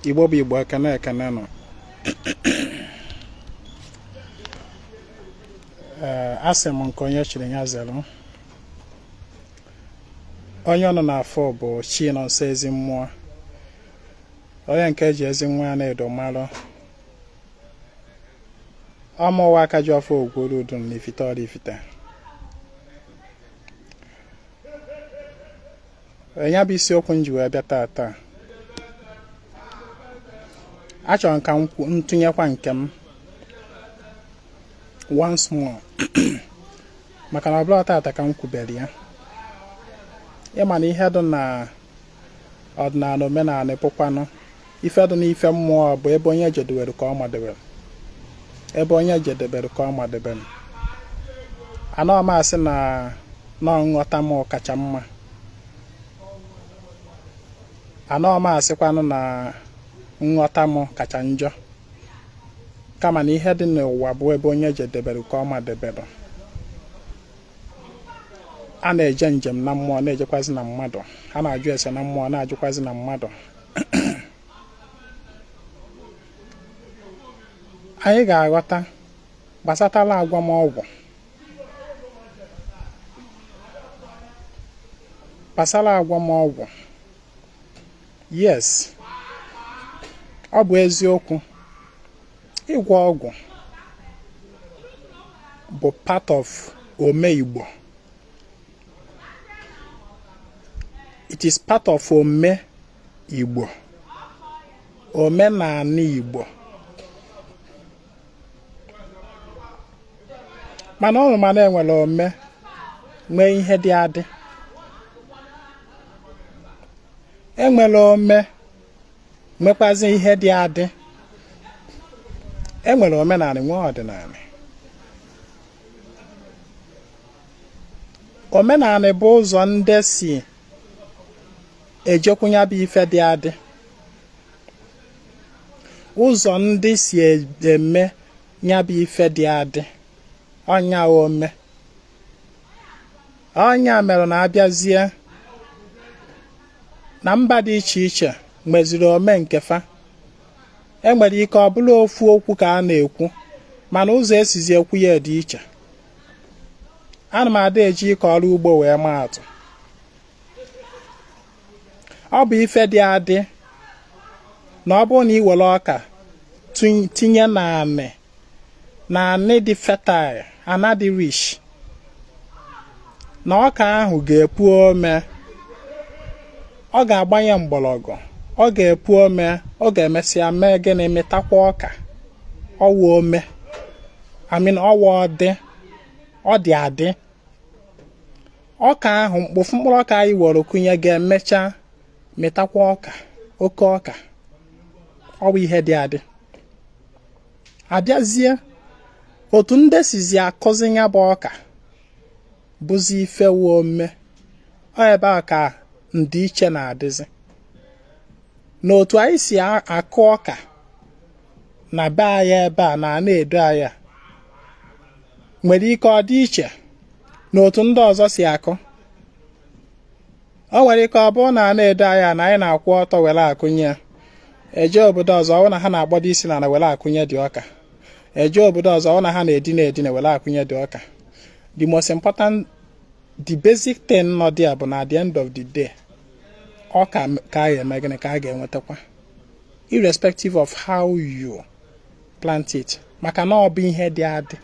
igbo bụ igbo ekene ekene nụ eh, asị m nke onye chiri ya zere onye ụnụ na-afụ bụ Chinọnso Ezimmụọ onye nke eji Ezinwa Anaedo malụ ọ mụwa Akajiọfọ ogworo udu na ifite Ọraifite ya bụ isiokwu m ji wee bịa taa taa achọrọ m ka m tụnyekwa nke m once more maka na ọ bụrọ tata ka m kwubere ya ịma na ihe dị na ọdịnanị omenanị bụkwanụ ife dị n'ife mmụọ bụ ebe onye jedewere ka ọ madebere ebe onye jedebere ka ọ madebere anọ m asị na nọ nghọta m kacha mma anọ m asịkwanụ na nghọta m kacha njọ kama na ihe dị n'ụwa bụ ebe onye jedebere ka ọ madebere a na-eje njem na mmụọ na-ejekwazi na mmadụ a na-ajụ ese na mmụọ na-ajụkwazi na mmadụ anyị ga-aghọta gbasatala agwamọgwụ gbasara agwamọgwụ yes ọ bụ eziokwu ịgwọ ọgwụ bụ part of ome Igbo it is part of ome Igbo omenanị Igbo mana ọ mana enwere ome nwee ihe dị adị enwere ome nwekwazi ihe dị adị enwere omenanị nwee ọdịnanị omenanị bụ ụzọ ndị si ejekwu nya bụ ife dị adị ụzọ ndị si eme nya bụ ife dị adị ọ nya ome ọ nya mere na a bịazie na mba dị iche iche nweziri ome nke fa enwere ike ọ bụrụ ofu okwu ka a na-ekwu mana ụzọ esizi ekwu ya dị iche ana m ada eji ịkọ ọrụ ugbo wee maa atụ ọ bụ ife dị adị na ọ bụrụ na ị were ọka tinye na anị na anị dị fertile ana dị rich na ọka ahụ ga-epu ome ọ ga-agbanye mgbọrọgwụ ọ ga-epu ome ọ ga-emesịa mee gịnị mịtakwa ọka ọ wụ ome I mean ọ wụ ọdị ọ dị adị ọka ahụ mkp ofu mkpụrụ ọka anyị were kụnye ga-emecha mịtakwa ọka oke ọka ọ bụ ihe dị adị a bịazie otu ndị sizi akụzi ya bụ ọka bụzi ife wụ ome ọ ebe a ka ndịiche na-adịzi na otu anyị si akụ ọka na be anyị ebe a na Anaedo anyị nwere ike ọ dị iche na otu ndị ọzọ si akụ o nwere ike ọ bụrụ na Anaedo anyị na anyị na-akwụ ọtọ were akụnye ya e je obodo ọzọ ọ na ha na-akpọdo isi na ana were akụnye the ọka e je obodo ọzọ ọ na ha na-edina edina were akụnye the ọka the most important the basic thing nọ there bụ na at the end of the day ọka ka a ga-eme gịnị ka a ga-enwetakwa irrespective of how you plant it maka na ọ bụ ihe dị adị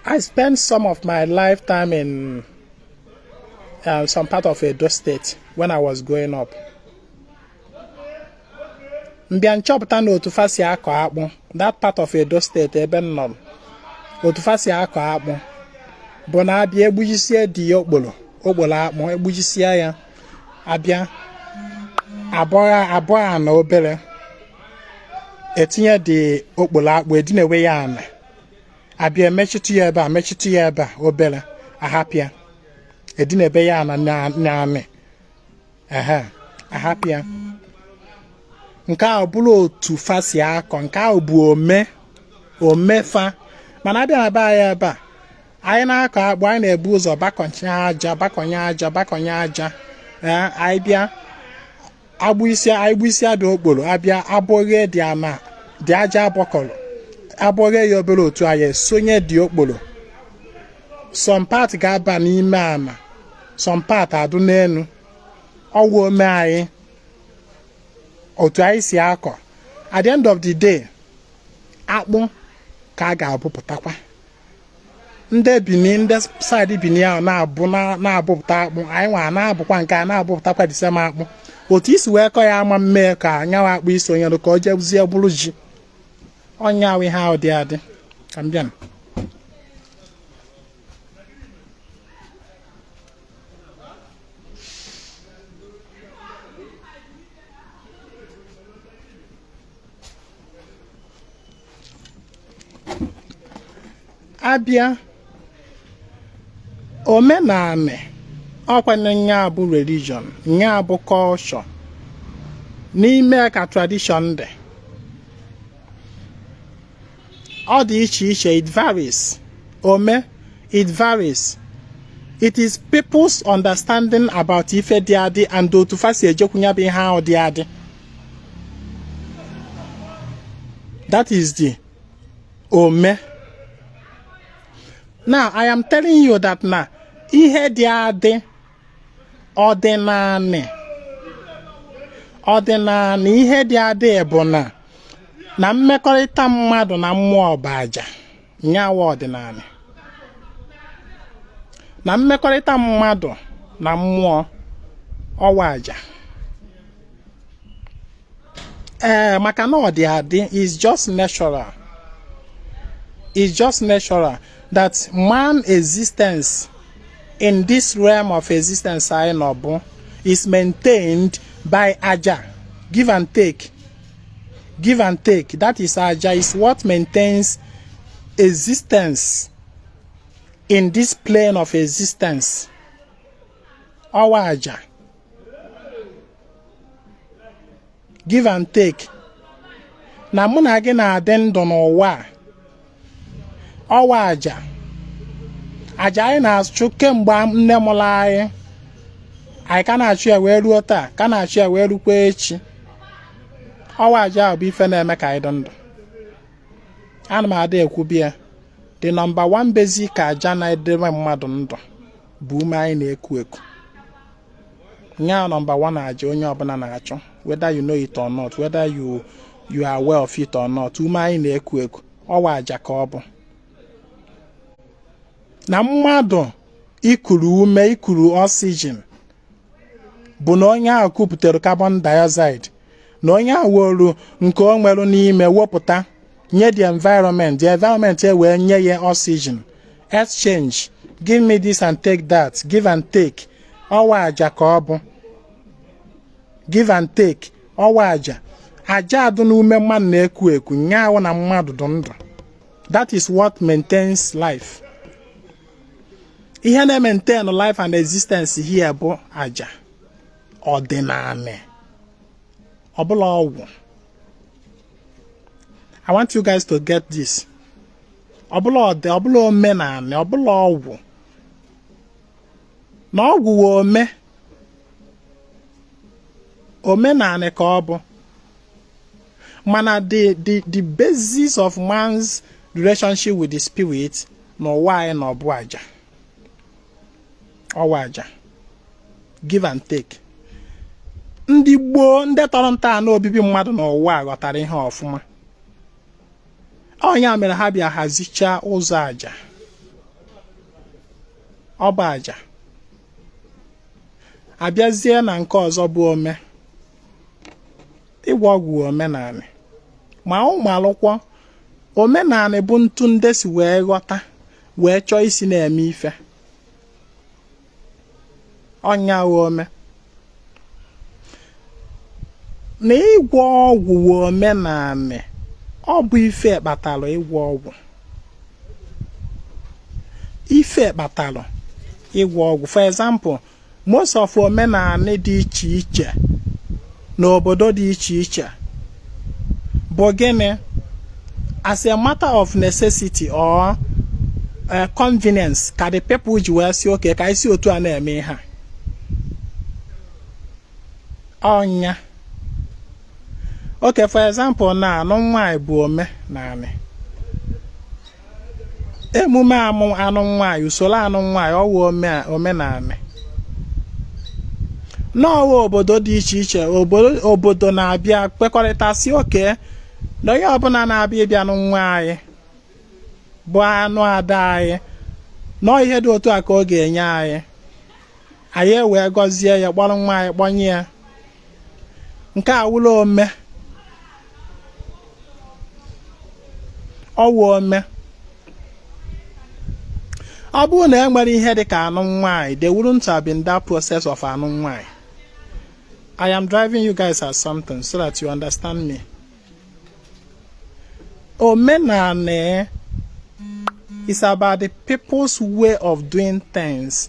I spent some of my lifetime in uh, some part of Edo State when I was growing up. m bịa nchọpụta na otu fa si akọ akpụ that part of Edo State ebe m nọ otu fa si akọ akpụ bụ na a bịa egbujisie the okporo okporo akpụ egbujisie ya a bịa abọọ ana obere etinye the okporo akpụ edinewe ya ana a bịa emechitụ ya ebe a mechitụ ya ebe a obere a hapụ ya edinebe ya na ana ehe a hapụ ya nke ahụ bụrụ otu fa si akọ nke ahụ bụ ome ome fa mana a bịa na be anyị ebe a anyị na-akọ akpụ anyị na-ebu ụzọ bọkọnye aja bọkọnye aja bọkọnye aja ee anyị bịa anyị egbujisie the okporo a bịa abọghee the ama the aja a bọkọrọ abọghee ya obere otu a anyị sonye the okporo some part ga-aba n'ime ama some part adụ n'elu ọ wụ ome anyị otu anyị si akọ at the end of the day akpụ ka a ga-abụpụtakwa ndị bini ndị side bini ahụ na-abụ na-abụpụta akpụ anyị nwa na-abụkwa nke a na-abụpụtakwa the same akpụ otu i si wee kọ ya ama mee ka nya wụ akpụ isonyere ka ọ jezie bụrụ ji ọ nya wụ ihe ahụ dị adị ka m bịa a bịa omenanị ọkwa na nya bụ religion nya bụ culture n'ime ka tradition dị ọ dị iche iche it varies ome it varies it is people's understanding about ife dị adị and otu fa si ejekwu nya bụ ihe ahụ dị adị That is the ome. Now, I am telling you that na ihe dị adị ọdịnanị ọdịnanị ihe dị adị bụ na na mmekọrịta mmadụ na mmụọ bụ aja. nya wụ ọdịnanị na mmekọrịta mmadụ na mmụọ ọ wụ aja ee eh, maka na ọ dị adị is just natural is just natural that man existence in this realm of existence anyị nọ bụ is maintained by aja give and take give and take that is aja is what maintains existence in this plane of existence ọ wụ aja give and take na mụ na gị na-adị ndụ n'ụwa a ọ wụ aja aja anyị na-achụ kemgbe nne mụrụ anyị anyị ka na-achụ ya wee ruo taa ka na-achụ ya wee rukwa echi ọ wụ aja bụ ife na-eme ka anyị dị ndụ ana m ada ekwubi ya the number one basic aja na-edebe mmadụ ndụ bụ ume anyị na-eku eku nyaa number one aja onye ọbụla na-achụ whether you know it or not whether you you are aware of it or not ume anyị na-eku eku ọ wụ aja ka ọ bụ na mmadụ ikuru ume ikuru oxygen bụ na onye ahụ kupụtara carbon dioxide na onye ahụ wolu nke o nwere n'ime wepụta nye the environment the environment e wee nye ya oxygen exchange give me this and take that give and take ọ wụ aja ka ọ bụ give and take ọ wụ aja aja dụ n'ume mmadụ na-eku eku nya wụ na mmadụ dụ ndụ that is what maintains life ihe na-maintain life and existence here bụ aja ọdịnanị ọ bụrọ ọgwụ I want you guys to get this ọ bụrọ ọdị ọ bụrọ omenanị ọ bụrọ ọgwụ na ọgwụ wụ ome omenanị ka ọ bụ mana the the the basis of man's relationship with the spirit n'ụwa anyị nọ bụ aja ọ wụ aja give and take ndị gboo ndị tọrọ ntọala obibi mmadụ n'ụwa ghọtara ihe ọfụma ọ nya mere ha bịa hazichaa ụzọ aja ọ bụ aja a bịazie na nke ọzọ bụ ome ịgwọ ọgwụ omenanị ma ụmụ alụkwọ omenanị bụ ntu ndị si wee ghọta wee chọọ isi na-eme ife ọ nya ome na ịgwọ ọgwụ wụ omenanị ọ bụ ife kpatara ịgwọ ọgwụ ife kpatara ịgwọ ọgwụ for example most of omenanị dị iche iche n'obodo dị iche iche bụ gịnị as a matter of necessity or eh, convenience ka the people ji wee sị okay ka e si otu a na-eme ihe ọ nya okay for example na anụm nwaanyị bụ omenanị emume amụ anụm nwaanyị usoro anụm nwaanyị ọ wụ omenanị na ọ wụ obodo dị iche iche obodo na-abịa kwekọrịta sị okay na onye ọbụla na-abịa ịbịa nụ nwa anyị bụ anụ ada anyị na ọọ ihe dị otu a ka ọ ga-enye anyị anyị ewee gọzie ya kpọrọ nwa anyị kpọnye ya nke a wụrụ ome ọ wụ ome ọ bụrụ na e nwerọ ihe dị ka anụm nwaanyị there wouldn't have been that process of anụm nwaanyị I am driving you guys at something so that you understand me omenanị is about the people's way of doing things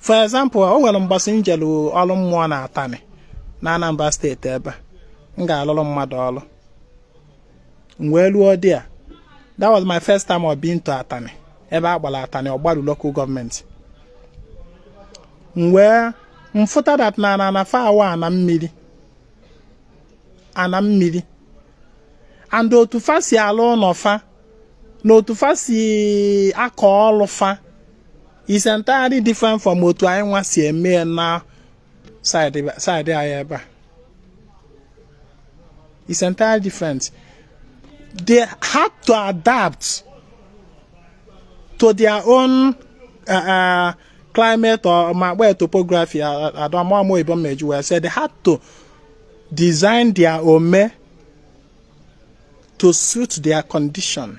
for example o nwere mbọsị m jelu ọrụ mmụọ na atani na Anambra steeti ebe m ga-alụrụ mmadụ ọrụ m wee luo there that was my first time of being to atani ebe a kpọlụ atani ọgbaru local government m wee fụta that na na na fa wụ ana mmiri ana mmiri and otu fa si alụ ụnọ fa na otu fa si akọ ọrụ fa is entirely different from otu anyị nwa si eme ya na side anyị ebe a is entirely different they had to adapt to their own uh, uh, climate or ma where topography adamamo uh, uh, ibom meju well said they had to design their ome to suit their condition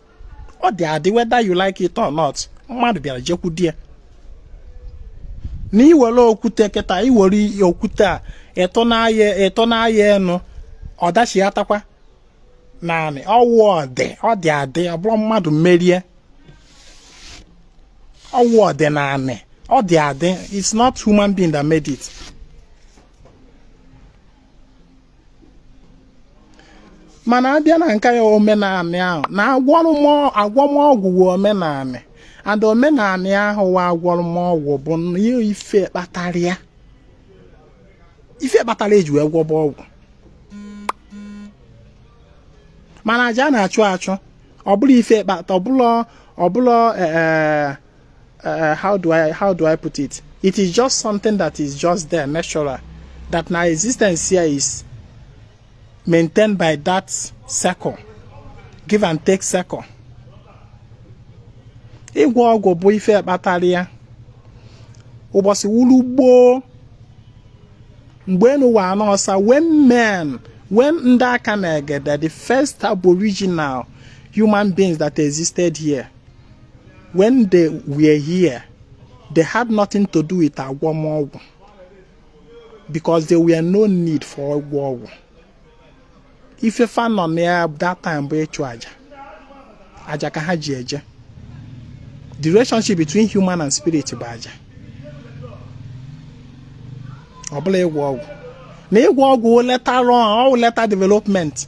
ọ dị adị whether you like it or not mmadụ bịara jekwudo ya na i were okwute kịta i were okwute a i tụnye ya i tụnye ya enu ọ dachighatakwa n'anị ọ wụ ọdị ọ dị adị ọ bụrọ mmadụ mere ya ọ wụ ọdịnanị ọ dị adị it's not human being that made it mana a bịa na nke ya omenanị a hụ na agwọmọgwụ wụ omenanị and omenanị ahụ wụ agwọmọgwụ bụ ihe ife kpatara ya ife kpatara e ji wee gwọba ọgwụ mana aja a na-achụ achụ ọ bụrọ ife kpata ọ bụrọ e, e, uh, how do I how do I put it? It is just something that is just there, natural, that my existence here is maintained by that circle, give and take circle. ịgwọ ọgwụ bụ ife kpatara ya ụbọsị wụlụ gboo mgbe enu wụ ana ọsa when men when ndị aka na egede the first aboriginal human beings that existed here when they were here they had nothing to do with agwọmọgwụ because there were no need for ịgwọ ọgwụ ife fa nọ na ya that time bụ ịchụ aja aja ka ha ji eje the relationship between human and spirit bụ aja ọ bụrọ ịgwọ ọgwụ na ịgwọ ọgwụ later on later development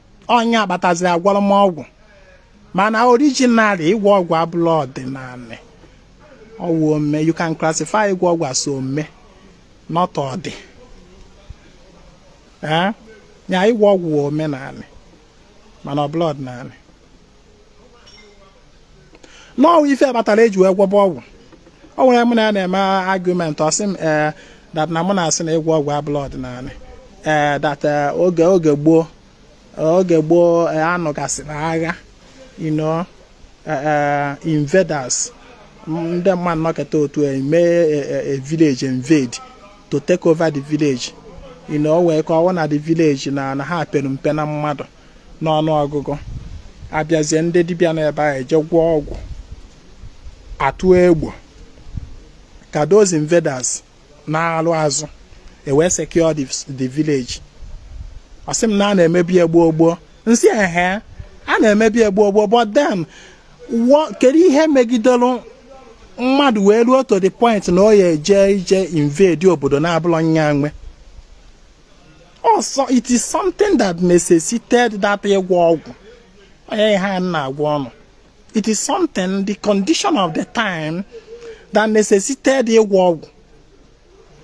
ọ ya kpataziri agwọrọ m ọgwụ mana originally ịgwọ ọgwụ abụrọ ọdịnanị ọ wụ ome you can classify ịgwọ ọgwụ as ome not ọdị ya ịgwọ ọgwụ wụ omenanị mana ọ bụrọ ọdịnanị no ọ wụ ife kpatara eji wee gwọba ọgwụ o nwere mụ na ya na-eme argument ọ sị m ee eh, that na mụ na-asị na ịgwọ ọgwụ abụlọ ọdịnanị ee eh, that eh, oge oge gboo oge gboo a nụgasịrị agha you know invaders ndị mmadụ nọkọta otu eme a village invade to take over the village you know wee ka ọ wụ na the village na na ha pere mpe na mmadụ n'ọnụ ọgụgụ abịazie ndị dibịa nọ ebe ahụ eje gwọọ ọgwụ atụ egbo ka those invaders naalụ azụ e wee secure the, the village ọ sị m na a na-emebu ya gboo gboo m sị ehe a na-emebu ya gboo gboo but then kedu ihe megidere mmadụ wee ruo to the point na ọ ya-eje ije invade obodo na-abụlọ nya nwe so it is something that necessitated that ịgwọ ọgwụ ọ nya ihe m na-agwa ụnụ it is something the condition of the time that necessitated ịgwọ ọgwụ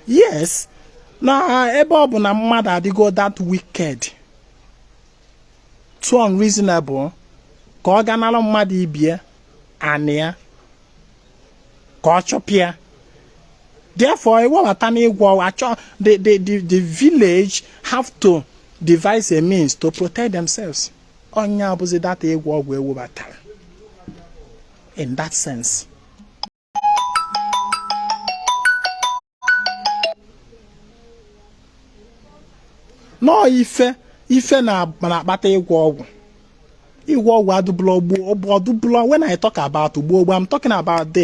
yes na ebe ọ bụ na mmadụ adịgo that wicked too unreasonable ka ọ ga nara mmadụ ibe ya anị ya ka ọ chụpụ ya therefore e webata n'ịgwọ achọ the the the the village have to devise a means to protect themselves ọ nya bụzi that ịgwọ ọgwụ e webatara in that sense. no ife ife na-akpata ịgwọ ọgwụ ịgwọ ọgwụ adụbụlọ gboo ọ bụ ọ dụbụlọ when I talk about gboo gboo I'm talking about the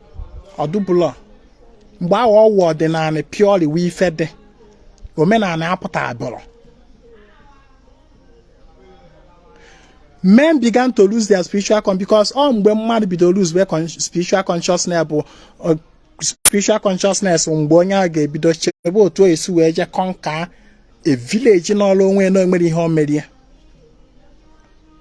ọ dụbụlọ mgbe ahụ ọ wụ ọdịnanị purely wee ife dị omenanị apụtabụrọ men began to lose their spiritual con because ọ mgbe mmadụ bidoro lose their spiritual consciousness bụ uh, spiritual consciousness mgbe onye ahụ ga-ebido chebe otu esi wee jee conquer a village nọrọ onwe na-enwerọ ihe o mere ya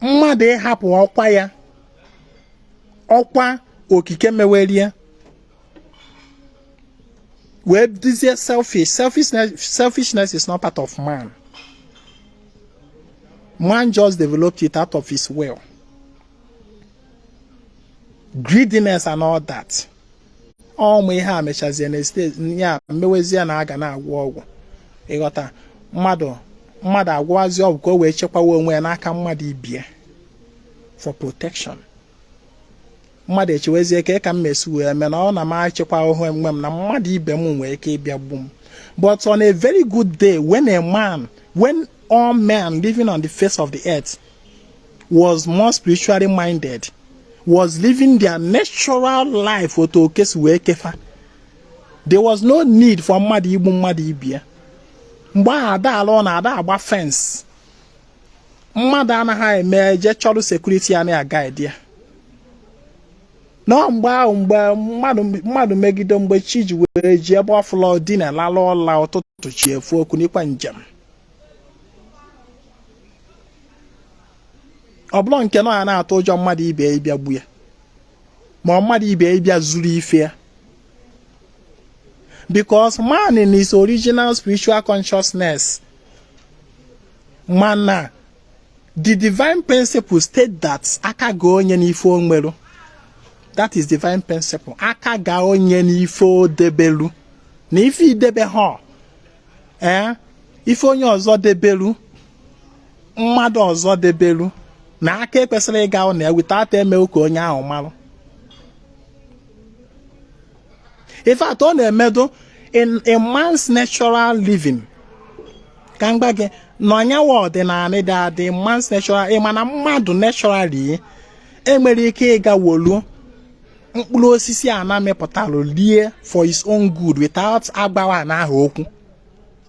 mmadụ ịhapụ ọkwa ya ọkwa okike mewere ya wee dịzie selfish selfishness selfishness is not part of man man just developed it out of his will greediness and all that ọmụ ihe a mechazie na steeti ya emewezie na aga na-agwọ ọgwụ ị ghọta mmadụ agwọwazi ọgwụ ka o wee chekwawa onwe ya n'aka mmadụ ibie for protection mmadụ echewezie ka ka m mesi wee mee na ọ na m achekwa onwe m na mmadụ ibe m nwere ike ịbịa gbu m but on a very good day when a man when all men living on the face of the earth was more spiritually minded was living their natural life otu oke si wee kee fa there was no need for mmadụ igbu mmadụ ibie mgbe ahụ ada alụ ụnọ ada agba fence mmadụ anaghị eme eje chọrọ security ya na-a guide ya no mgbe ahụ mgbe mmadụ megide mgbe chi ji were ji ebe ọ fụlụ dina lalụ ụla ụtụtụ chi efo o kunikwa njem ọ bụrọ nke na ọ ya na-atụ ụjọ mmadụ ibe ya ịbịa gbu ya ma mmadụ ibe ya ịbịa zuru ife ya because man in his original spiritual consciousness ma na the divine principle state that aka ga onye n'ife o nwere that is divine principle aka ga onye n'ife o debelu na ife i debehọ ee eh? ife onye ọzọ debelu mmadụ ọzọ debelu na aka ekwesịrọ ịga na ya without eme ka onye ahụ marụ in fact ọ na-emedo in a man's natural living ka m gwa gị na ọ nya wụ ọdịnanị dị adị man's natural ị ma na mmadụ naturally enwerọ ike ịga wolu mkpụrụ osisi ana mịpụtalụ lie for his own good without agwawa ana ahụ okwu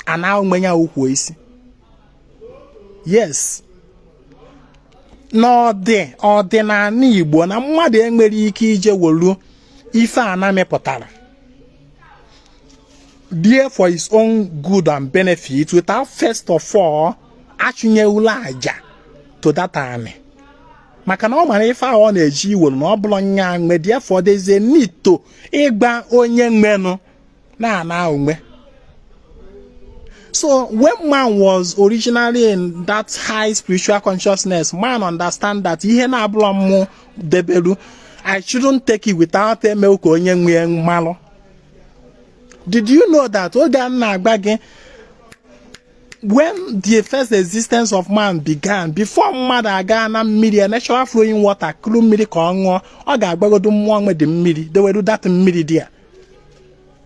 ana ya ukwu isi yes n'ọdịnanị Igbo na mmadụ enwerọ ike ije wolu ife ana mịpụtara lie for his own good and benefit without first of all achụnyewula aja to that maka na ọ mara ife ahụ ọ na-eje iwere na ọ bụrọ nya nwe therefore there is a need to ịgwa onye nwenụ na-ana onwe so when man was originally in that high spiritual consciousness man understand that ihe na-abụrọ mmụ debelu i shouldn't take it without eme ka onye nwe malụ did you know that oge a m na-agwa gị when the first existence of man began before mmadụ aga na mmiri a natural flowing water kuru mmiri ka ọ ṅụọ ọ ga-agwagodu mmụọ nwe the mmiri dewelu that mmiri there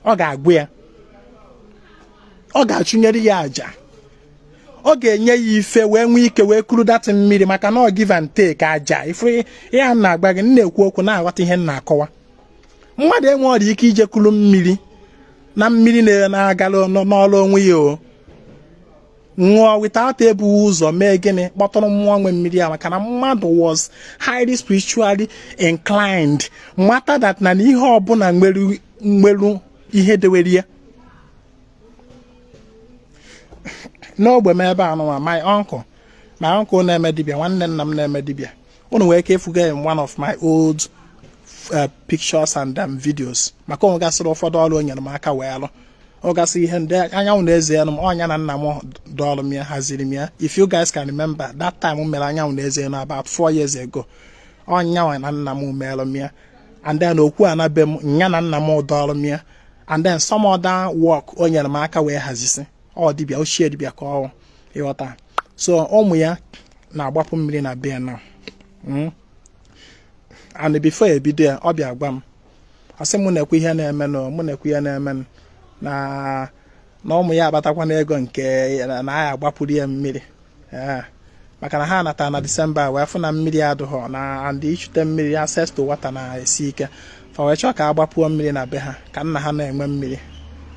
ọ ga-agwa ya ọ ga-achụnyere ya aja ọ ga-enye ya ife wee nwee ike wee kuru that mmiri maka na ọ give and take aja ife ihe a m na-agwa gị na-ekwu okwu na-aghọta ihe m na-akọwa mmadụ enwerọ ike ije kulu mmiri na mmiri na-agala nọọrụ onwe ya o ṅụọ without ebu ụzọ mee gịnị kpọtụrụ mmụọ nwe mmiri a maka na mmadụ was highly spiritually inclined mata that na ihe ọbụla nwelu ihe dewere ya n'ogbe m ebe a nụwa my uncle my uncle na-eme dibịa nwanne nna m na-eme dibịa unu nwere ike ịfụga in one of my old uh, pictures and um, videos maka o nwegasịrị ụfọdụ ọrụ o nyere m aka wee lụọgasị ihe ndị anyanwụ na eze elu m ọ nya na nna m dọọlụ m ya haziri m ya if you guys can remember that time m mere anyanwụ na eze elu about four years ago ọ nyanwa na nna m meelụ m ya and then okwu ana be m nya na nna m dọọlụ m ya and then some other work o nyere m aka wee hazisi ọ dibịa ochie dibịa ka ọ ịghọta so ụmụ ya na-agbapụ mmiri na be ya hmm? and before ebido ya ọ bịa gwa m ọ sị mụ nekwa ihe na-emenụ mụ nekwa ihe na-emenụ na ụmụ ya akpatakwanụ ego nke na a ya-agbapụrụ ya mmiri eh, maka na ha nata na disemba wee fụ na mmiri adịghọ na and ichute mmiri access to water na-esi ike fa wee chọọ ka a gbapụọ mmiri na be ha ka nna ha na-enwe mmiri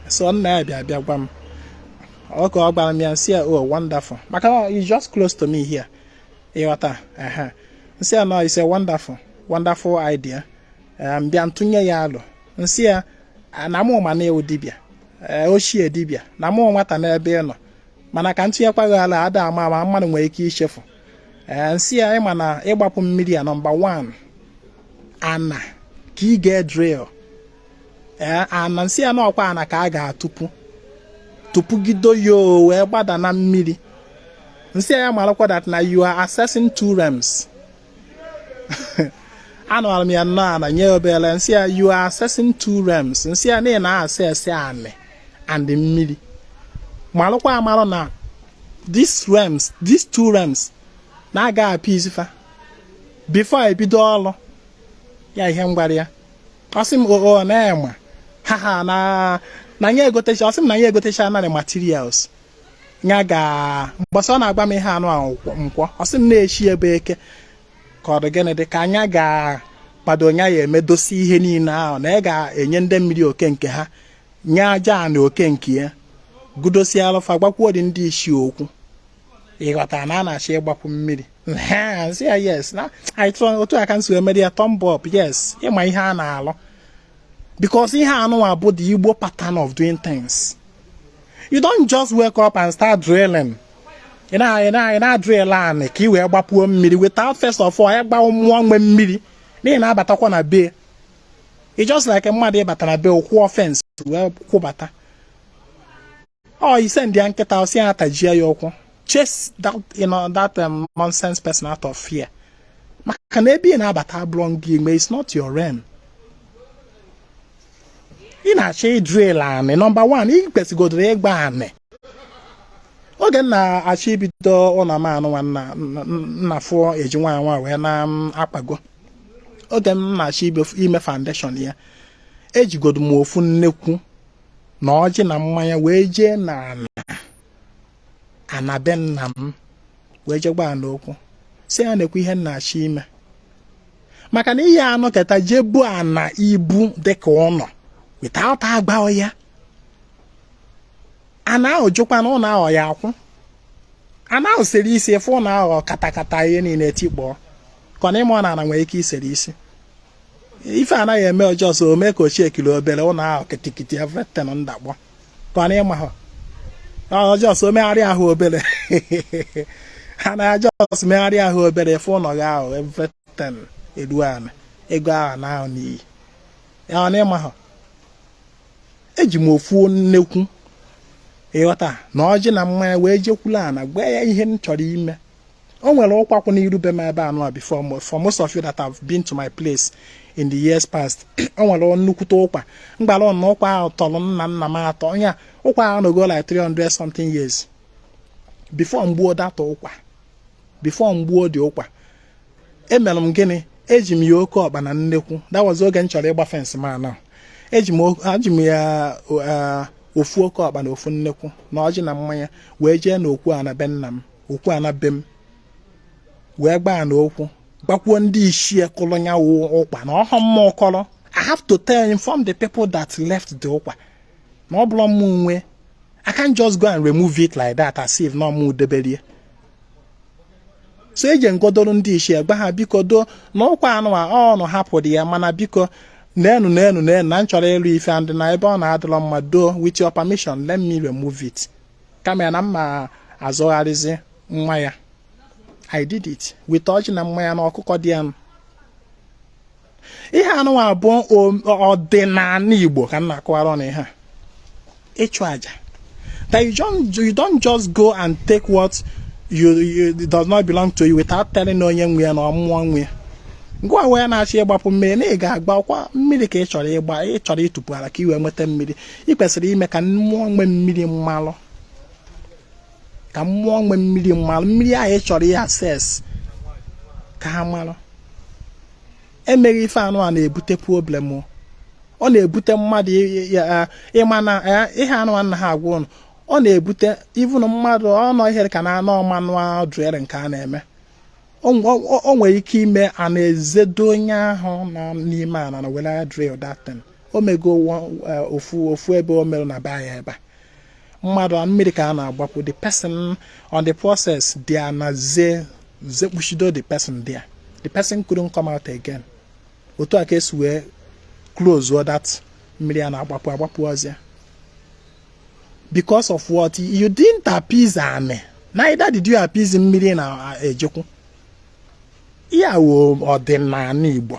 so nna ya bịa bịa gwa m oge ọ gwara m ya m sị ya o oh, wonderful maka na it's just close to me here ịghọta ehe m sị ya no it's a wonderful wonderful idea m bịa tụnye ya alo m sị ya na mụ ma na ị wụ dibịa ochie dibịa na m wụ nwata n'ebe ị nọ mana ka m tụnyekwa gị alo ada ama ama mmadụ nwere ike ichefu ee m sị ya ị ma na ịgbapụ mmiri a nọmba 1 ana ka ị ga-edrill ee ana m sị ya na ọ kwa ana ka a ga-atụpụ tụpụgido ya wee gbada na mmiri m sị ya marakwa that na you are accessing two realms anụwara m ya nnọọ ana nye obere m sị ya you are accessing two realms m sị ya na access anị and mmiri malụkwa amalụ na these realms these two realms na ị ga-appease fa before ebido ọrụ ya ihe m gwara ya ọ sị m oo oh, oh, na ya ma ha ha na na ya egotecha ọ sị m na ya egotecha nanị materials ya ga mbọsị ọ na-agwa m ihe a nụwa wụ nkwọ ọ sị m na echi ya bụ eke ka ọ dị gịnị dị ka nya ga-akwado ya ya emedosi ihe niile ahụ na ya ga-enye ndị mmiri oke nke ha nye ajana oke nke ya gudosie alụfa gwakwuo ndị ichie okwu ịghọtara na a na-achọ ịgbapụ mmiri sị ya yes na otu aka m si emere ya thumb up yes ị ma ihe ị na-alụ because ihe anụnwa bụ the Igbo pattern of doing things you don't just wake up and start drilling ị na-adrill anị ka ị wee gbapuo mmiri without first of all ịgba mmụọ nwe mmiri n'ihi ị na-abatakwa na be it's just like mmadụ ịbata na be kwụọ fence wee kwụbata ọ ị sendịa nkịta sị ya tajie ya ụkwụ chase that, you know, that um, nonsense person out of here maka na ebe ị na-abata abụrọ gị nwe it's not your realm ị na-achọ ịdrill anị number one ị kwesịgodoro ịgba anị oge m na-achọ ibido ụlọ m anụnwa ụnụ na-afụ eji nwa nwa wee na-akpago oge m na-achọ ime foundation ya ejigodo m ofu nnekwu na ọjị na mmanya wee jee na ana be nna m wee jee gba ana okwu sị ya nekwa ihe m na-achọ ime maka na ị ya-anọkata jee bo ana ibu dịka ụlọ without agba ya ana ahụ jụkwa na ụlọ ahụ ya akwụ ana ahụ sere isi ị fụ ụlọ ahụ katakata ihe niile tikpọọ ka ọ na ị marọ na ana nwere ike isere isi ife ana ga-eme ọ just mee ka ọ shakie obere ụlọ ahụ kitikiti everything adakpọ ka ọ na ị maha ọ just megharịa ahụ obere ana ahụ just megharịa ahụ obere ị fụ ụlọ gị ahụ everything eruo ala ego ahụ anaa n'iyi ọ na ị maha eji m ofu nnekwu ịghọta na ọjị na mmanya wee jekwulu ana gwa ya ihe m chọrọ ime o nwere ụkwa kwụ n'iru be m ebe anụ a before for most of you that have been to my place in the years past o nwere nnukwute ụkwa m gbara na ụkwa ahụ tọrọ nna nna m atọ nya ụkwa ahụ anọgo like 300 something years before m gbuo that ụkwa before m gbuo the ụkwa emere m gịnị eji m ya oke ọkpa na nnekwu that was oge m chọrọ ịgba fence m anụwa eji m ya uh, ofu oke ọkpa na ofu nnekwu na ọjị na mmanya wee jee n'okwu ana be nna m okwu ana be m wee gbaa ana okwu gbakwuo ndị ichie kụrụ ya wụ ụkwa na ọ họ mụwa kụrụ I have to tell inform the people that left the ụkwa na ọ bụrọ mụwa nwe I can't just go and remove it like that as if na ọ mụ debere ya so eje m godoro ndị ichie gba ha biko doo na ụkwa anụ a ọ ụnụ hapụrụ ya mana biko nenu nenu nenu na m chọrọ ịlụ ife and na ebe ọ nọ adịrọ mma doo with your permission let me remove it kama ya na mma azọgharịzi nwa ya i did it with ọjị na mmanya na ọkụkọ there ihe anụwa bụ ọdịnala igbo ka m na-akọwara ụnụ ihe a ịchụ aja that you don't, you don't just go and take what you, you does not belong to you without telling onye nwe ya na ọ mmụọ nwe ya ngwa wee na-achọ ịgbapụ mmiri na ị ga-agbakwa mmiri ka ị chọrọ ịgba ị chọrọ ịtụpụ ala ka ị wee nweta mmiri ị kwesịrị ime ka mmụọ nwe mmiri malụ ka mmụọ nwe mmiri malụ mmiri ahụ ị chọrọ ịaccess ka ha malụ emeghị ife anụwa na-ebute problem ọ na-ebute mmadụ ị ma na ihe anụwa m na-agwa ụnụ ọ na-ebute even mmadụ ọnọ ihe ka na anọ mmanụ a drill nke a na-eme o nwere ike ime ana ezedo onye ahụ nọ n'ime ala na were drill that thing o mego ofu ofu ebe o mere na be anyị ebe a mmadụ a mmiri ka a na-agbapụ the person on the process there ana ze ze kpuchido the person there the person couldn't come out again otu a ka esi wee close that mmiri a na-agbapụ agbapụ ọzọ because of what you didn't appease ana neither did you appease mmiri na-ejekwu ya wụ ọdịnala Igbo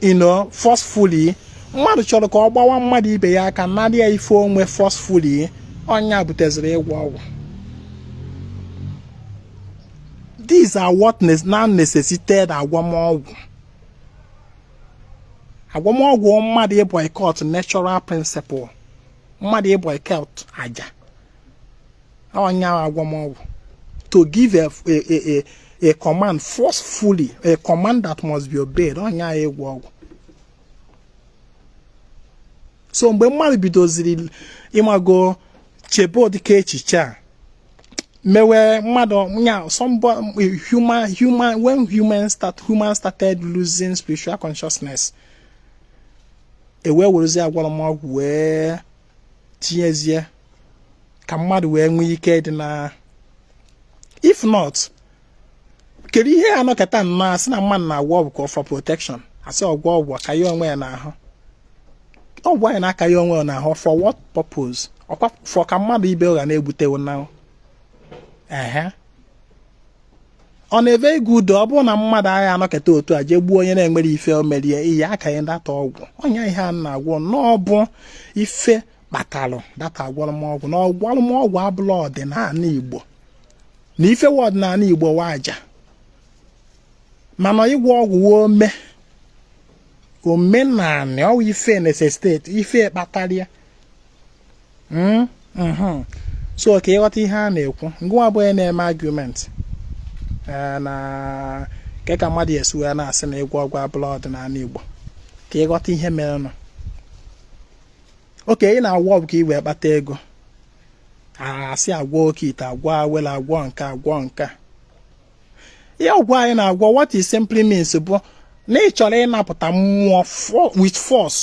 you know forcefully mmadụ chọrọ ka ọ gbawa mmadụ ibe ya aka narị ya ife o nwe forcefully ọ nya buteziri ịgwọ ọgwụ these are what now necessitated agwọmọgwụ agwọmọgwụ mmadụ ịboycott natural principle mmadụ ịboycott aja ọ nya agwọmọgwụ to give a, a, a, a command forcefully a command that must be obeyed ọ nya ịgwọ ọgwụ so mgbe mmadụ bidoziri ị mago chebe ụdịka echiche a mewe mmadụ ya human human when human start human started losing spiritual consciousness e wee werezie agwọrọ m ọgwụ wee tinyezie ka mmadụ wee nwee ike dị na if not kedu ihe a nọkata nnọọ a sị na mmadụ na-agwọ ọgwụ ka for protection a sị ọ gwọ ọgwụ ka ya onwe ya n'ahụ ọgwụ anyị na-aka ya onwe ya n'ahụ for what purpose ọ kwa for ka mmadụ ibe ụgha na-egbutewo na ehe ọ na-eve ego udo ọ bụrụ na mmadụ agaghị anọkata otu a jee gbuo onye na-enwere ife o merie iyi aka ya ndata ọgwụ onye ihe a na-agwọ n'ọbụ ife kpatalụ that agwọlụmọgwụ na agwọlụmọgwụ abụla ọdịnala igbo na ife wụ ọdịnala igbo wụ aja mana ịgwọ ọgwụ wa ome omenala ọ wụ ife necessitate ife kpatara ya hmm? mhm. so ka ị ghọta ihe a na-ekwu ngịwa bụ onye na-eme argument eh, na nke ka mmadụ esi wee na-asị na ịgwọ ọgwụ abụla ọdịnala igbo ka ị ghọta ihe merenụ okay ị na-agwọ ọgwụ ka ị wee kpata ego a sị agwọ oke ite agwọ awele agwọ nke a agwọ nke a ihe ọgwụ anyị na-agwọ what it simply means bụ na ị chọrọ ịnapụta mmụọ with force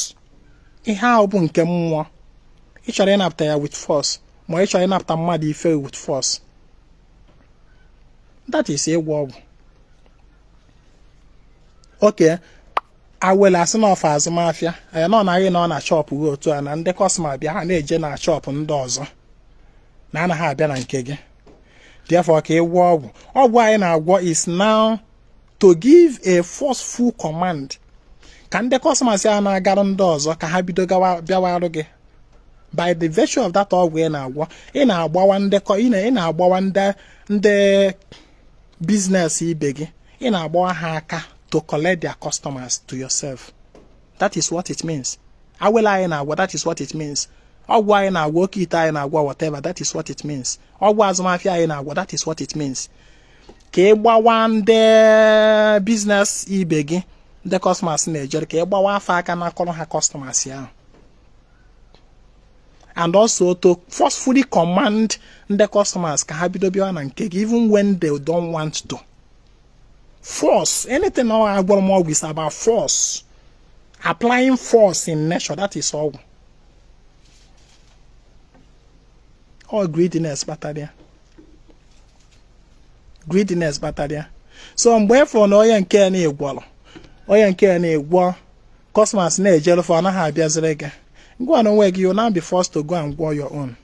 ihe ahụ bụ nke mmụọ ị chọrọ ịnapụta ya with force ma ị chọrọ ịnapụta mmadụ ife with force that is ịgwọ ọgwụ okay awele a sị na ọ for azụmahịa ya na ọ na ị nọ na shop gị otu a na ndị customer bịa ha na-eje na shop ndị ọzọ na anaghị abịa na nke gị therefore ka ị gwọọ ọgwụ ọgwụ anyị na-agwọ is now to give a forceful command ka ndị customers a na-agarụ ndị ọzọ ka ha bido bịawarụ gị by the virtue of that ọgwụ ị na-agwọ ị na-agbawa ndị ị na-agbawa ndị business ibe gị ị na-agbawa ha aka to collect their customers to yourself that is what it means awele anyị na-agwọ that is what it means ọgwụ anyị na-agwọ oke ite anyị na-agwọ whatever that is what it means ọgwụ azụmahịa anyị na-agwọ that is what it means ka ị gbawa ndị business ibe gị ndị customers na-ejere ka ị gbawa fa aka nakọrọ ha customers ahụ and also to forcefully command ndị customers ka ha bido bịawa na nke gị even when they don't want to force anything agwọrọmọgwụ is about force applying force in nature that is ọgwụ all greediness kpatara ya greediness kpatara ya so mgbe ị fụrụ na onye nke na-agwọrọ onye nke na-agwọ customers na-ejere fa ọ naghị abịaziri gị Ngịwa na onwe gị, you now be forced to go and gwọ your own.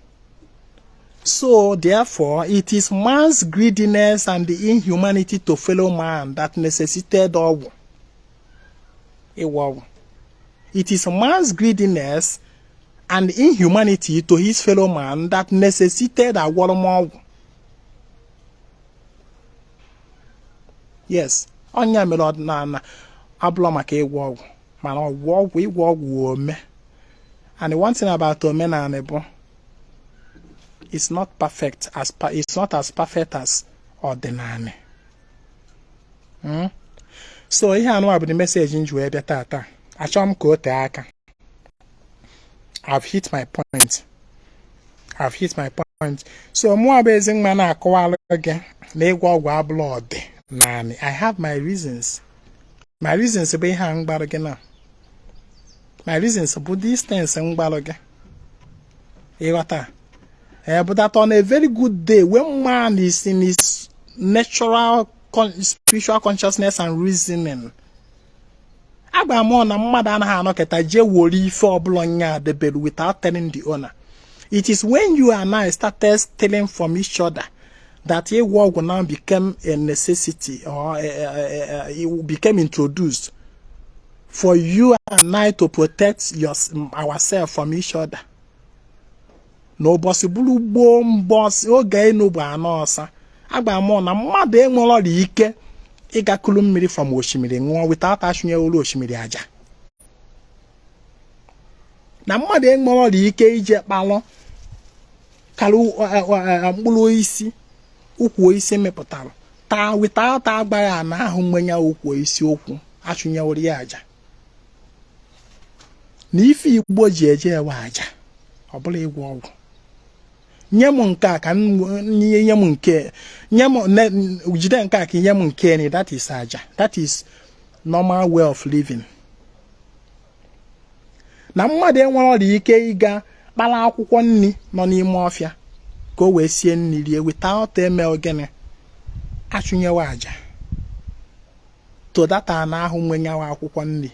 So, therefore, it is man's greediness and the inhumanity to fellow man that necessitated ọgwụ. Ịgwọ ọgwụ. It is man's greediness and inhumanity to his fellow man that necessitated agwọrọmọgwụ. Yes, ọ ya mere ọdịnala abụla maka ịgwọ ọgwụ. mana ịgwọ ọgwụ ịgwọ ọgwụ ome and one thing about omenanị bụ it's not perfect as it's not as perfect as ọdịnanị hmm? so ihe anụwa bụ the message m ji wee bịa tata achọghị m ka o tee aka I've hit my point I've hit my point so mụwa bụ Ezinwa na-akọwalụ gị na ịgwọ ọgwụ abụrọ ọdịnanị I have my reasons my reasons bụ ihe a m gwara gị na my reasons bụ these things m gwara gị ị ghọta ee bụ that on a very good day when man is in his natural spiritual consciousness and reasoning agwa m unu na mmadụ anaghị anọkịta jee wori ife ọ bụrọ nya debere without telling the owner it is when you and I started stealing from each other that ịgwọ ọgwụ now became a necessity or a, a, a, it became introduced for you and I to protect your, ourselves from each other. n'ụbọsị bụrụ gboo mbọsị oge enu bụ ana ọsa agwa m unu na mmadụ enwerọrị ike ịga kulu mmiri from osimiri ṅụọ without achụnyelu osimiri aja na mmadụ enwerọrị ike ije kpalụ kara mkpụrụ osisi ukwu osisi mepụtara taa without agwa ana ahụ nwe nya ukwu osisi okwu achụnyewere ya aja na ife Igbo ji eje wụ aja ọ bụrọ ịgwọ ọgwụ nye m nke a ka nye nye m nke nye m jide nke a ka nye m nke ni that is aja that is normal way of living na mmadụ enwerọrị ike ịga kpala akwụkwọ nri nọ n'ime ọfịa ka o wee sie nri rie without eme gịnị achụnyewe aja to that ana ahụ nwe nya wụ akwụkwọ nri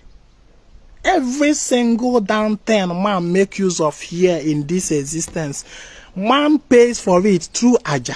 every single damn thing man make use of here in this existence man pays for it through aja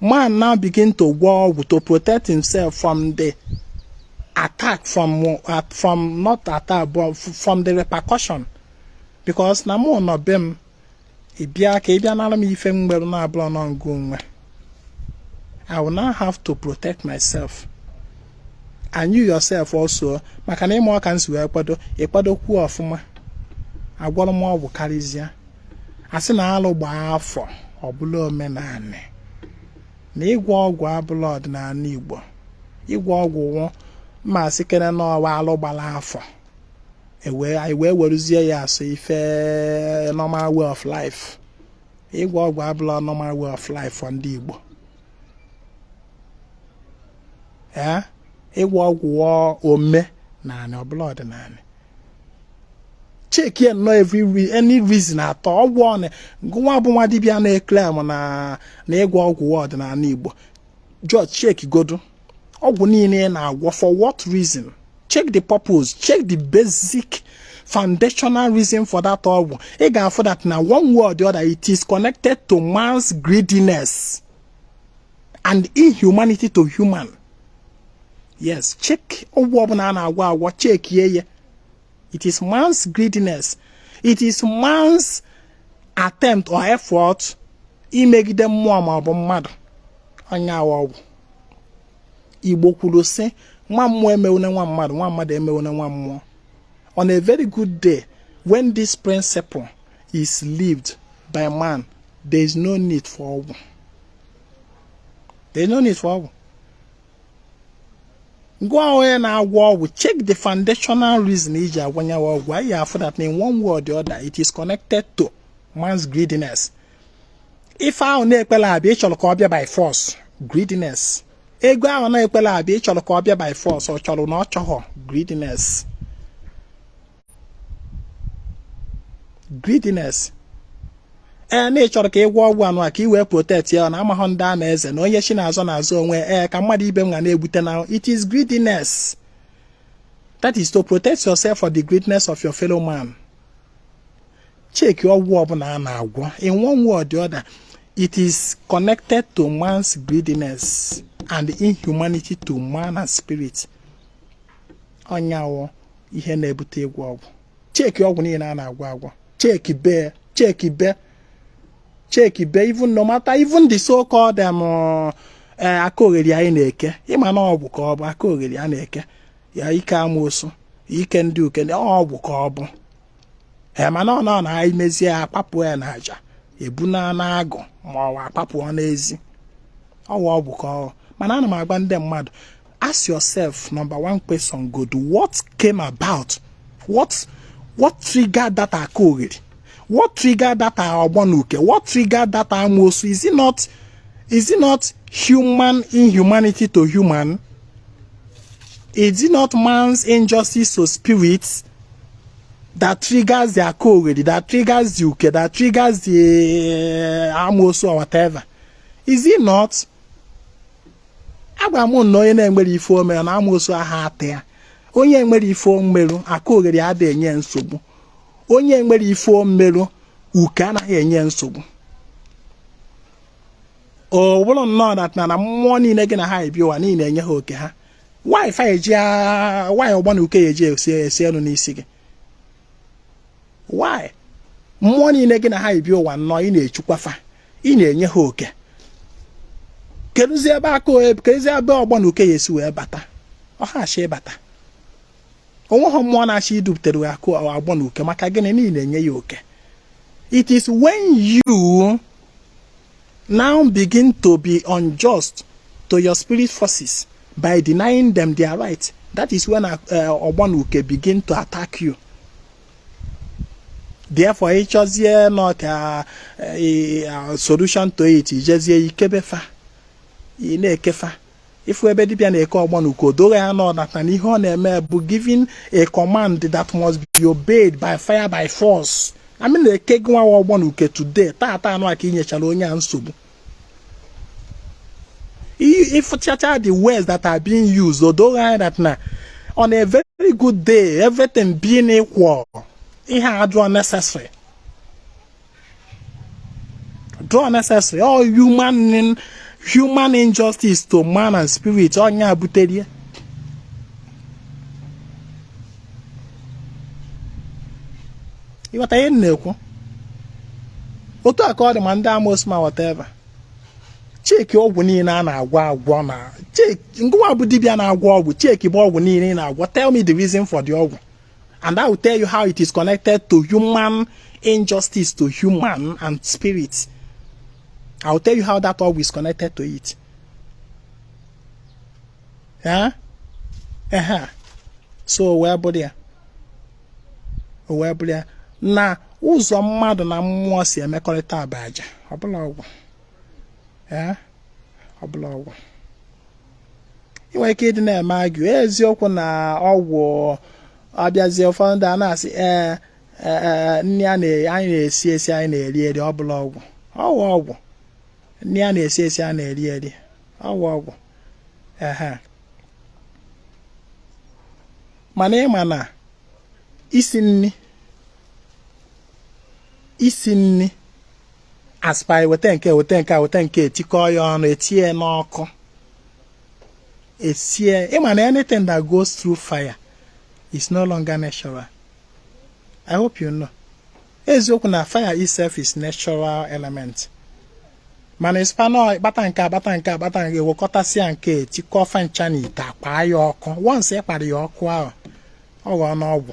man now begin to gwọọ ọgwụ to protect himself from the attack from uh, from not attack but from the repercussion because na mụ nọ be m ị bịa ka ị bịa nara m ife m nwere na abụrọ ngị nwe I will now have to protect myself and you yourself also maka na ị marọ ka m si wee kwado ị kwadokwu ọfụma agwọrọ m ọgwụ karịzịa a sị na alụ gbaa afọ ọ bụla omenanị na ịgwọ ọgwụ abụla ọdịnanị Igbo ịgwọ ọgwụ wụ ma sị kene na ọ wụ alụ gbala afọ anyị wee weruzie ya as if normal way of life ịgwọ ọgwụ abụla normal way of life for ndị Igbo ịgwọ ọgwụ wụ omenanị ọ bụla ọdịnanị cheki ya nnọọ every any reason at all ọgwụ ọnụ nwa bụ nwa dibịa na-eclaim na na ịgwọ ọgwụ wụ ọdịnanị Igbo just check godu ọgwụ niile ị na-agwọ for what reason check the purpose check the basic foundational reason for that ọgwụ ị ga-afụ that na one way or the other it is connected to man's greediness and inhumanity to human yes check ọgwụ ọbụla a na-agwọ agwọ chekie ya it is man's greediness it is man's attempt or effort imegide mmụọ ma ọ bụ mmadụ ọ nya wụ ọgwụ Igbo kwuru sị nwa mmụọ emewune nwa mmadụ nwa mmadụ emewune nwa mmụọ on a very good day when this principle is lived by man there is no need for ọgwụ there is no need for ọgwụ gwa onye na-agwọ ọgwụ check the foundational reason i ji agwọ ya ọgwụ ị ga-afụ that in one way or the other it is connected to man's greediness ife ahụ na-ekpela abịa ị chọrọ ka ọ bịa by force greediness ego ahụ na-ekpela abịa ị chọrọ ka ọ bịa by force ọ chọrọ na ọ chọghọ greediness greediness ee na ị chọrọ ka ị gwọ ọgwụ anụwa ka ị wee protect ya na amaghọ ndị a na-eze na onye chi na-azọ na-azọ onwe ee ka mmadụ ibe m ga na-egbute na it is greediness that is to protect yourself for the greediness of your fellow man cheki ọgwụ ọbụla a na-agwọ in one way or the other it is connected to man's greediness and inhumanity to man and spirit ọ nya wụ ihe na-ebute ịgwọ ọgwụ cheki ọgwụ niile a na-agwọ agwọ chekibe chekibe chekibe even no matter even the so called em uh, eh, aka ogheri anyị na-eke ịma na ọgwụ ka ọ bụ aka ogheri a na-eke ya ike amoosu ike ndị uke ọgwụ ka ọ bụ ee mana ọ nọ na anyị mezie akpapụ ya na aja e buna agụ ma ọ akpapụ n'ezi ọgwụ ka ọ mana ana m agwa ndị mmadụ ask yourself number one question godu what came about what what triggered that aka ogheri what triggered that ogbonuke what triggered that amosu is it not is it not human inhumanity to human Is it not man's injustice to spirits that triggers the Akogeri, that triggers the Uke, that triggers the uh, Amosu or whatever? Is it not? Agwa m na onye na-enwere ife o mere na Amosu aha ata ya. Onye nwere ife o meru Akogeri adịghị enye nsogbu. Onye nwere ife o meru Uke anaghị enye nsogbu. ọ bụrụ nnọọ that na mmụọ niile gị na ha yi bịa ụwa na ị na-enye ha oke ha why why ọgbọ na uke ya eji esi ọnwụ n'isi gị why mmụọ niile gị na ha yi bịa ụwa nnọọ ị na-echukwa fa ị na-enye ha oke kedụzi ebe ọgbọ na uke ya esi wee bata ọ ha achọ ịbata o nweghị mmụọ na-achọ idupụtere gị ọgbọ na uke maka gịnị na ị na-enye ya oke it is when you now begin to be unjust to your spirit forces by denying them their right that is when ọgbọ na uke begin to attack you therefore ị chọzie nnọọ eh, eh, solution to it i jezie ikebe fa ị na-eke fa ị fụ ebe dibịa na-eke ọgbọ na uke o doo gị anya that na ihe ọ na-eme bụ giving a command that must be obeyed by fire by force amị na-eke gị nwa ọgbọ na uke today taata a ka i nyechara onye a nsogbu ị fụchaa the words that are being used o doo gị anya that na on a very good day everything being equal ihe a adịrọ necessary dịrọ necessary ọ human injustice to man and spirit ọ ya butere ya ị ghọta ihe m na-ekwu otu a ka ọ dị ma ndị amosu ma whatever checkie ọgwụ niile a na-agwọ agwọ na checkie ngụwa bụ dibịa na-agwọ ọgwụ checkiebe ọgwụ niile ị na-agwọ tell me the reason for the ọgwụ and I will tell you how it is connected to human injustice to human and spirit. I will tell you how that ọgwụ is connected to it. Eh? Ehee. So o wee bụrụ, o wee bụrụ na ụzọ mmadụ na mmụọ si emekọrịta bụ aja ọ bụrọ ọgwụ ọ bụrọ ọgwụ i nwe ike ịdị na-eme argue eziokwu na ọgwụ ọ bịazie ụfọdụ ndị a na-asị ee nri anyị na-esi esi anyị na-eri eri ọ bụrọ ọgwụ ọ bụ ọgwụ nri a na-esi esi a na-eri eri ọ bụ ọgwụ ehe mana ị ma na isi nri isi nri aspire weta nke a weta nke a weta nke a etikọọ ya ọnụ etinye n'ọkụ esie ị ma na anything that goes through fire is no longer natural i hope you know eziokwu na fire itself is natural element mana ịspanọ ị kpata nke a kpata nke a kpata nke a wekọtasịa nke a tikọọ fancha n'ite akwaa ya ọkụ once ị kwara ya ọkụ ahụ ọ ghọọna ọgwụ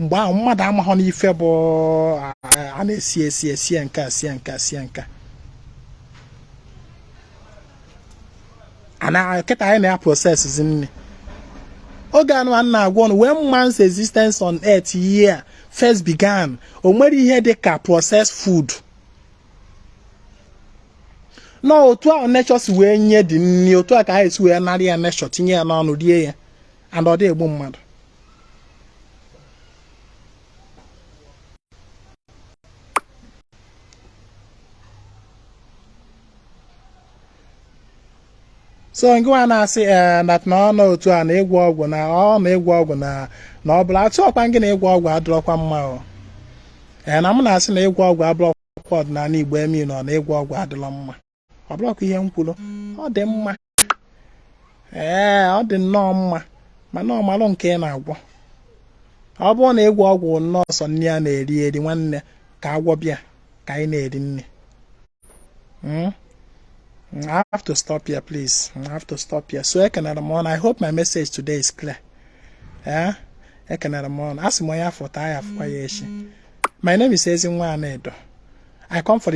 mgbe ahụ mmadụ amaghọ n'ife bụ a na-esi esi esie nke a sie nke a sie nke a na kịta anyị na-aprocessizi nri oge anụ a na-agwa unu when man's existence on earth here first began o nwere ihe dị ka processed food no otu ahụ nature si wee nye anyị nri otu a ka anyị si wee narị ya nature tinye ya n'ọnụ rie ya and ọ dị egbu mmadụ so ngịwa na-asị ee eh, na ọ nọ otu a na ịgwọ ọgwụ na ọ na ịgwọ ọgwụ na na ọ bụla atụ ọkwa gị na ịgwọ ọgwụ adịrọkwa mma o ee eh, na m na-asị na ịgwọ ọgwụ abụrọkwa ọdịnala Igbo ị mean na ịgwọ ọgwụ adịrọ mma ọ bụrọkwa ihe m kwuru ọ dị mma ee ọ dị nnọọ mma mana ọ malụ nke ị na-agwọ ọ bụrụ na ịgwọ ọgwụ nnọọ sọ nri a na-eri eri nwanne ka a gwọba ya ka anyị na-eri nri hmm? Mm, I have to stop here, please. Mm, I have to stop here. So ekenere m unu. I hope my message today is clear. Eh? Ekenere m unu. Asị m onye a fụ taa ya afụkwa ya echi. My name is Ezinwa Anaedo. I come for the